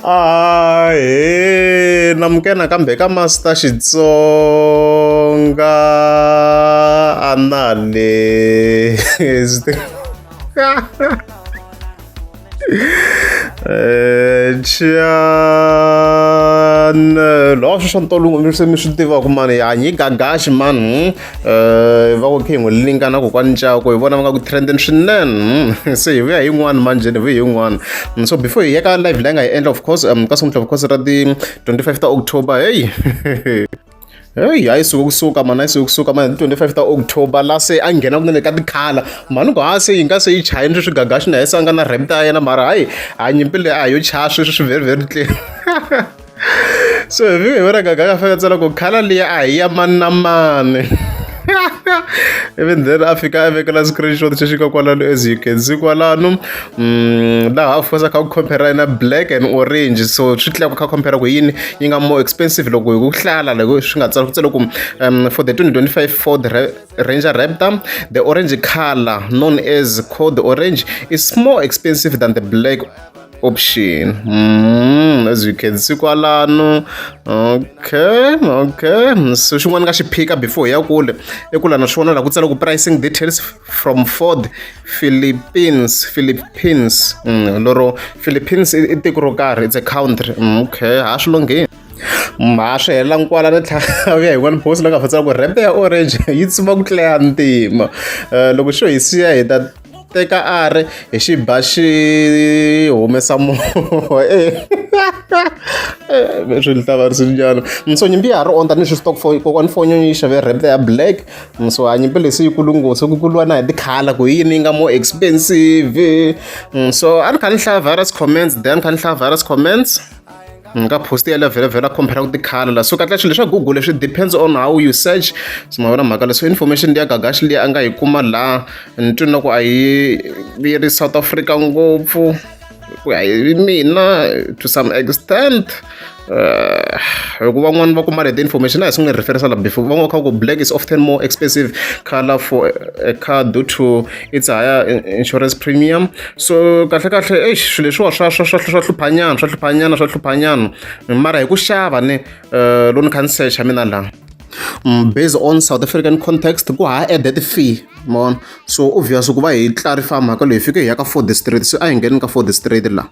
ahe namuke nakambe ka master xitsonga anale chanel eh, a swi swa ntolungu mi se mi swi tivaka mani ya nyigagaxi mani hmm? Eh, va ku khe hi n'wi linka na kokwani ncaku hi vona va nga ku trenden swinene hmm, se hi vuya hi yin'wana manje ni vuya hi yin'wana hmm, so before hi ya ka live leyi nga yi endla of course um, ka sungula of course ra ti 25 ta october heyi heyi hayi suka kusuka mani hayi suka kusuka mani hi 25 ta october la se a nghena kunene ka tikhala mani ku ha se yi nga se yi chayini swi swigagaxi na hi se a nga na rap ta yena mara hayi a nyimpi leyi a yo chaya sweswi swi very very clear so hi vike hi vona gaga ka fika tsala ku khala liya a hi ya mani na mani ivi then a fika a vekela screenshot xi xika kwalano as you can see kwalano mm, laha of course a kha ku compare na black and orange so swi tlhela ku kha compare ku yini yi nga more expensive loko hi ku hlala loko swi nga tsala ku tsala ku um, for the 2025 ford ranger raptor the orange color known as code orange is more expensive than the black option mm, as you can see kwalano okay okay so xin'wana ni nga xi phika before ya kule ekulana swi vona laha ku tsala ku pricing details from ford philippines philippines mm, loro philippines i tiko ro karhi it's a country mm, okay ha swi longheni ma swi helela nkwala ni tlhavuya hi one post la nga fatsaka ku rhempe ya orange yi tsuma ku tleya ntima eh, loko xo hi siya hi ta teka a ri hi xi ba xi humesa moya eh. eh, swi ni hlavarisi njhani so nyimpi ya ha ri on tanihileswi stock fo kokwani fonyo yi xave rhepta ya black so a nyimpi lesi yi kulu nghozi ku kuliwa na hi tikhala ku yini yi nga more expensive so a ni kha ni hlaya virus comments then ni kha ni hlaya virus comments ni nga post ya levelevhela compare ku tikhala la so kahle swilo leswa google leswi depends on how you search so ma vona mhaka leswi information leya gagaxi leyi a nga yi kuma la ni twi na ku a yi yi ri south africa ngopfu ku ya hi mina to some extent eh, hikuva van'wana va kuma leti information a hi swi n'wi referisa la before van'wana kha ku black is often more expensive color for a car due to its higher insurance premium so kahlekahle eish swilo leswiwa swa swa swa swa hluphanyana swa hluphanyana swa hluphanyana mara hi ku xava ni um lo ni kha ni secha mina laha Mm, based on south african context ku ha added fee mon so obvious ku va hi clarify mhaka leyi fike hi ya ka ford street se a hi ngheni ka ford street laha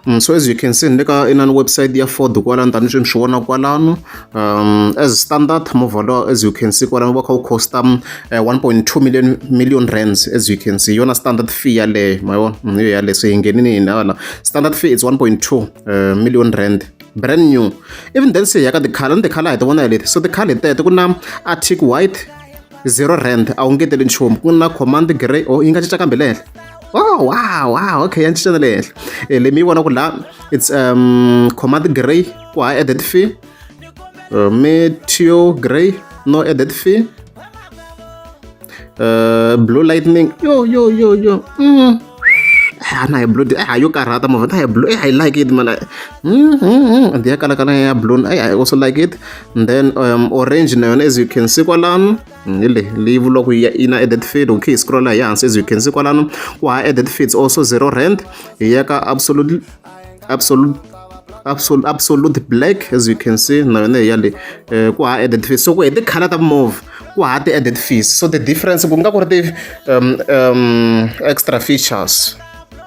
Mm, so as you can see ni le ka inani website ya ford kwalano taniswi mi swi vona kwalano um as standard movha lowa as you can see kwalano va kha wu costa um, eh, 1.2 million million rands as you can see yona standard fee yaleyo ma yona mm, yo yaleyo se yi ngenini yini hala standard fee it's 1.2 uh, eh, million rand brand new even then se ya ka tikhala ni tikhala hi ti vona hi leti so tikhala hi tete ku na artic white zero rand a wu ngeteli nchumu ku na command grey o oh, yi nga cinca kambe le henhla Oh, wow, wow, okay, ya cinca na le henhla. Eh, leyi mi yi vonaka laha, it's um, command grey, ku high added fee, uh, meteo grey, no added fee, uh, blue lightning, yo, yo, yo, yo, mm. Ah, na hi blue, ah, yo karhata movha, na hi blue, eh, I like it, man. Mm, mm, mm. And ya kala kala ya blue, I, I also like it. And then um, orange na yona, as you can see kwalano. hi leyi leyi vuriwaka yi yi na added feed okay hi scrolla hi hansi as you can see kwalano ku high added feeds also zero rand hi ya ka absolute absolute absolute absolute black as you can see na yona hi ya le eh, ku high added feeds so ku hi tikhala ta move ku high ti added feeds so the difference ku nga ku ri ti um, um, extra features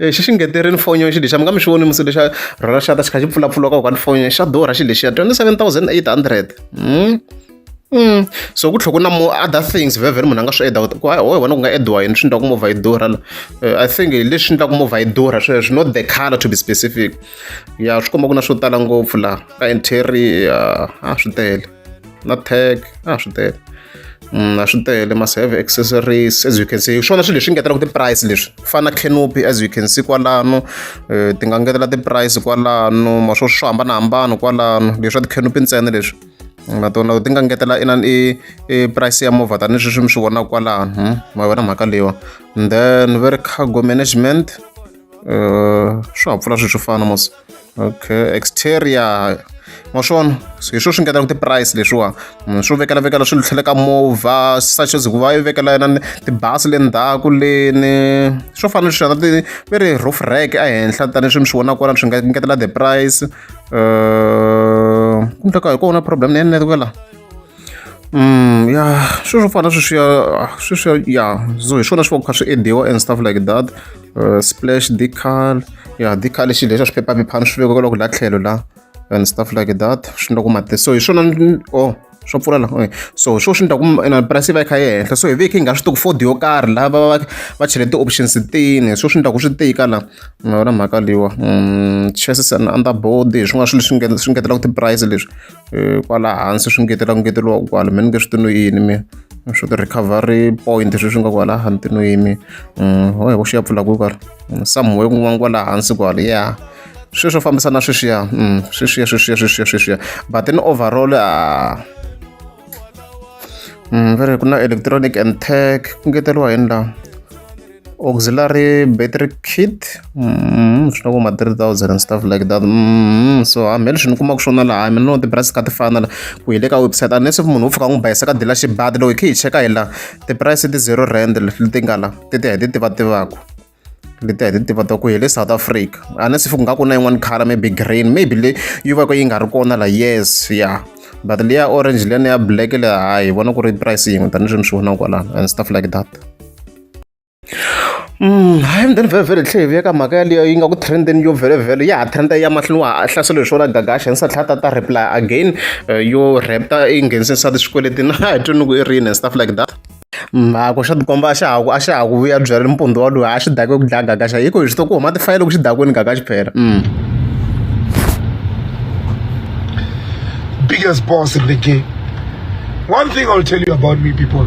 Eya xi xi nghenelerile fonyo xilo lexiya mi nga mi swi voni mi swi lexa rhwala xana xi kha xi pfulapfula ka kwani fonyo xa durha xilo lexiya twenty seven thousand eight hundred so ku tlhela ku na more other things vhevhele munhu a nga swi add-a ku hayi ho yona ku nga add-iwa yini swi endlaka movha yi durha la I think hi leswi endlaka movha yi durha sweswo not the colour to be specific ya swi komba ku na swo tala ngopfu laha ka interior a swi tele. na tag a swi tele mm, a swi tele must have accessories as you can see hi swona swilo leswi ngetelaka ti-price leswi ku fana na canopy as you can see kwalano eh, ti nga ngetela ti-price kwalano ma swo swo hambanahambana kwalano leswi swa ti-canopy ntsena leswi ma tona ti nga ngetela inani i i price ya movha tanihi sweswi mi swi vonaka kwalano hmm? ma vona mhaka leyiwa then very cargo management um swa ha pfula swilo swo fana mos okay exterior ma swona hi swo swi ngetaka ti-price leswiwa mm, swo vekela vekela swilo tlhele ka movha such as ku va yi vekela yena tibasi le ndzhaku leni swo fana ni swona ve ri roof rack ehenhla tanihi swi mi swi vona kona swi nga ngetela the price um eh, ku ndleka hi kona problem ni yena ni ri kwala Mm, ya swilo swo fana sweswiya sweswiya ya so hi swona swi va ku kha swi ediwa and stuff like that uh, splash decal ya decal xilo lexi a swi phephaphepha swi vekaka loko la tlhelo la and stuff like that swi endla ku mati so hi swona oh swa pfula la so swo swi endla ku ena price va yi kha yi henhla so hi veke hi nga swi tiku ford yo karhi la va va va chele ti-options tini swo swi endla ku swi tika la na yona mhaka leyiwa mm, chassis and underboard hi swin'wana swilo leswi ngetelaka ti-price leswi kwala hansi swi ngetela ku ngeteriwaka kwala mi ni nge swi ti no yini mi swo ti-recovery point sweswi nga kwala ha ni ti no yini ho hi ku xiya pfula ku kwala somewhere kun'wana kwala hansi kwala ya sweswo fambisana sweswiya sweswiya sweswiya sweswiya sweswiya but in overall a va ri ku na electronic and tech ku ngeteriwa yini laha auxiliary battery kit mm, swi na ku ma 3000 and stuff like that mm, so hambi leswi ni kumaka swona laha mina no ti-price ka ti fana la ku hi le ka website unless if munhu u pfuka n'wi bayisa ka dila xibadi loyi khe hi cheka hi la ti-price ti zero rand leti nga la ti ti hi ti tivativaka leti hi ti tivata ku hi le south africa unless if ku nga ku na yin'wana color maybe green maybe le yi va ka yi nga ri kona la yes ya yeah. but leya orange leyana ya black le hayi hi vona ku ri price yin'we tanihi swi mi swi vonaka kwalano and stuff like that hayi mdeni vhele tlhe hi vuya ka mhaka yaleyo yi nga ku trendeni yo vhelevhele ya ha trenda ya mahlweni wa ha hlaselo hi swona gagaxa ni sa tlhela ta ta reply again eh, yo repta yi nghenise nsati xikweleti na ha twi ni ku i rini and stuff like that mhako xa tikomba a xa ha ku a xa ha ku vuya byela mpundzu wa loyi a xi dake ku dlaya gagaxa hi ku hi swi to ku huma tifayele ku xi dakweni gagaxi phela mm. biggest boss in the game one thing i'll tell you about me people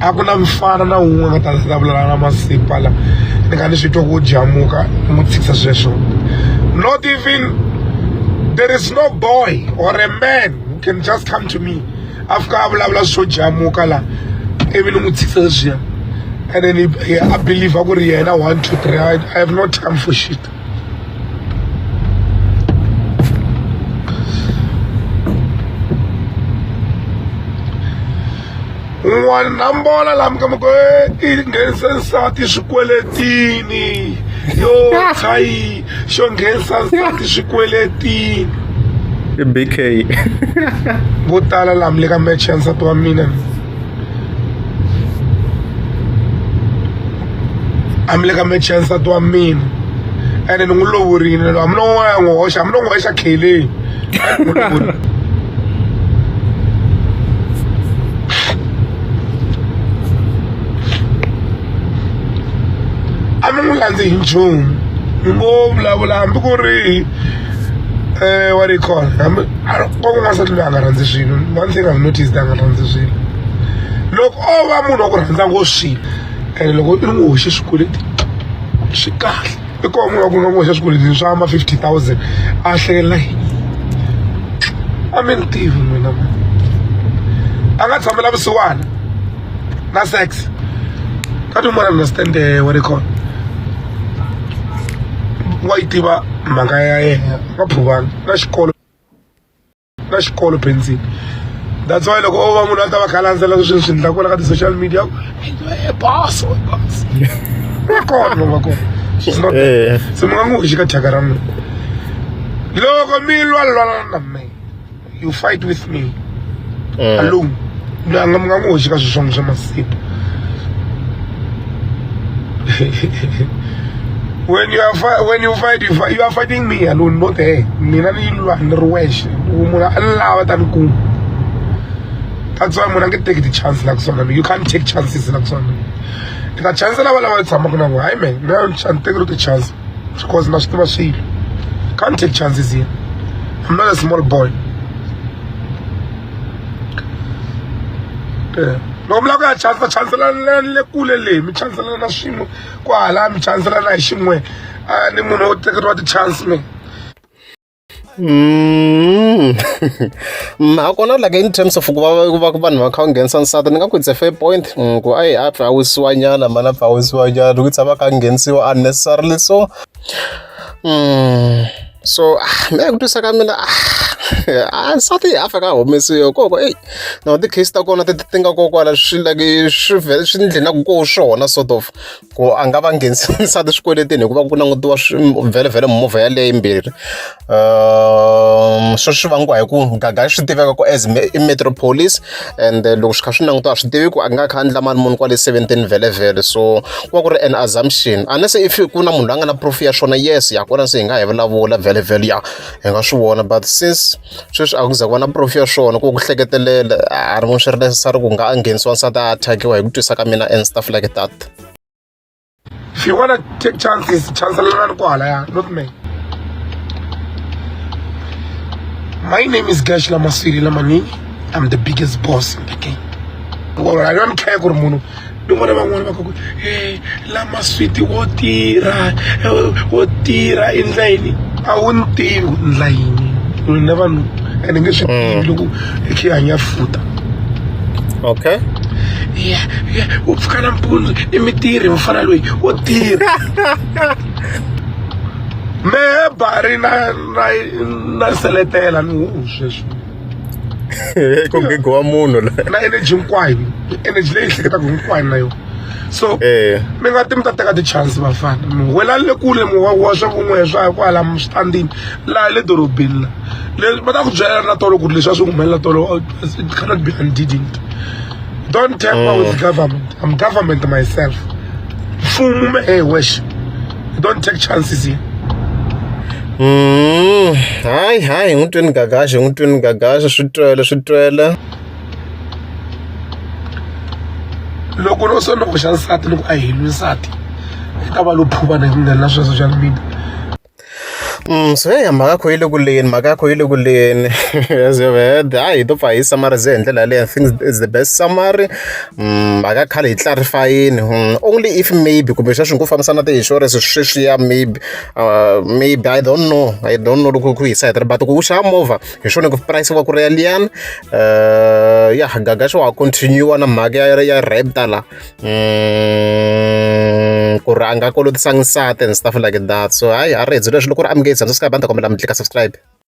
a ku na mfana na un'we nga ta ndzi ta vulana na masipa la ni nga ni swi twa ku jamuka ni n'wi tshikisa sweswo not even there is no boy or a man who can just come to me a fika a vulavula swo jamuka la ivi ni n'wi tshikisa leswiya and then a believer ku ri yena one two three i have no time for shit n'wana na mbola laha mukamako i nghenise nsati swikweletini yo tshayi xo nghenisa nsati swikweletini i bk vo tala laha mi le ka meche ya nsati wa mina a mi le ka match ya nsati wa mina ene ni n'wi lovorile a mi no n'wana ya n'wi hoxa a mi no n'wi hoxa kheleni a mi n'wi landzi hi nchumu ni ngo vulavula hambi ku ri um what do you call hambi o ku n'wansati loyi a nga rhandzi swilo one thing i've noticed a nga rhandzi swilo loko o va munhu wa ku rhandza ngo swilo ene loko i n'wi hoxe swikweleti swi kahle i kona munhu wa ku nga n'wi hoxa swikweleti swa ma fifty thousand a hlekelela hi a mi ni tivi n'wina a nga tshamela vusiwana na sex ka ti mona understand wa ri kona wa yi tiva mhaka ya yena ka phuvana na xikolo ka xikolo benzini that's why loko o va munhu a ta va kha landzela leswi swi endlaka kwala ka ti-social media baso baso va kona va kona eh. se mi nga n'wi xi ka thyaka ra mina loko mi lwa lwana na mina you fight with me allo loyi a nga mi nga n'wi hoxi ka swilo swa n'wi swa masiku when you are when you fight you, fight, you are fighting me alone not her mina ni lwa ni ri wexe munhu a ni lava ta ni kuma that's why munhu a nge take the chance la ku sona you can't take chances la ku sona ni ta chansela va lava tshamaka na vona hayi me na ni teki ro ti chance because na swi tiva swilo can't take chances here i'm not a small boy loko mi lava ku ya chansa chanselana le kule leyi mi chanselana na swin'we ku hala mi chanselana hi xin'we a ni munhu wo tekeriwa ti-chance mina Mm. a kona like in terms of ku va va ku vanhu va kha va nghenisa nsati ni nga ku it's a fair point mm, ku a yi a pfa a wisiwa nyana mani a pfa a wisiwa nyana loko tshama kha nghenisiwa unnecessarily so mm. so ah, me hi ku twisa ka mina ah, nsati a fika a humesiwa koko eyi no ti-case ta kona ti ti nga kokwala swi like swi vhele swi ndlenaku ko swona sort of ku a nga va nghenisi nsati swikweletini hikuva ku langutiwa vhele mimovha yaleyo yimbirhi um sweswi swi vangiwa hi ku gagayi swi tiveka ku as i metropolis and loko swi kha swi langutiwa swi tivi ku a nga kha a endla mali muni kwale seventeen vhele so ku va ku ri an assumption unless if ku na munhu loyi a nga na proof ya swona yes ya kona se hi nga hi vulavula vhele ya hi nga swi vona but since sweswi a ku za ku va na proof ya swona ku ku hleketelela a ri voni swi ri necessary ku nga a nghenisiwa nsati a attackiwa hi ku twisa ka mina and stuff like that if you wanna take chances chanselelani kwahalaya not me my name is gash lamasiri lamaningi i'm the biggest boss in the game well i don't care ku ri munhu ni vona van'wani va ku ku e la maswiti wo tirha wo tirha i ndla yini a wu ni tivi ku ndla yini n'wina vanhu ene nge swi tivi loko i khe i hanya futa okay ya ya u pfuka nampundzu i mi tirhi mufana loyi wo tirha mehe bari na na na seletela ni wu sweswo ku nghingho wa munhu la na energy hinkwayo energy leyi hleketaka hinkwayo na yona so eh. mi nga ti mi ta teka ti-chance vafana mi wela le kule mi wa swa kun'we swa kwala switandini laha le dorobeni la le va ta ku byela na tolo ku ri leswi a swi humelela tolo oh, it cannot be undidint don't tamper mm. with government i'm government myself mfumo me hey wexe don't take chances here Mm, hayi hayi n'wi twini gagaxe n'wi twini gagaxe swi twele swi twele loko no sona ku xa nsati loko a helwi nsati i ta va lo phuva na mina na swa social media Mm, so heya mhaka ya kho yi le ku leni mhaka ya kho yi le ku leni as you've heard hayi hi to pfa hi summarise hi ndlela yaleyo i think is the best summary mhaka ya khale hi clarify-ini only if maybe kumbe sweswi hi ku fambisa na ti-insurance sweswiya maybe maybe I don't know I don't know loko ku hisa hi tiri but ku xava movha hi swona ku price wa ku ri yaliyani um ya gaga swi wa continue na mhaka ya ya rapta la ku ri a nga kolotisa nsati and stuff like that so hayi a ri hi byele leswi loko ri amukisa ndzi swi ka banda kombela mi tlika subscribe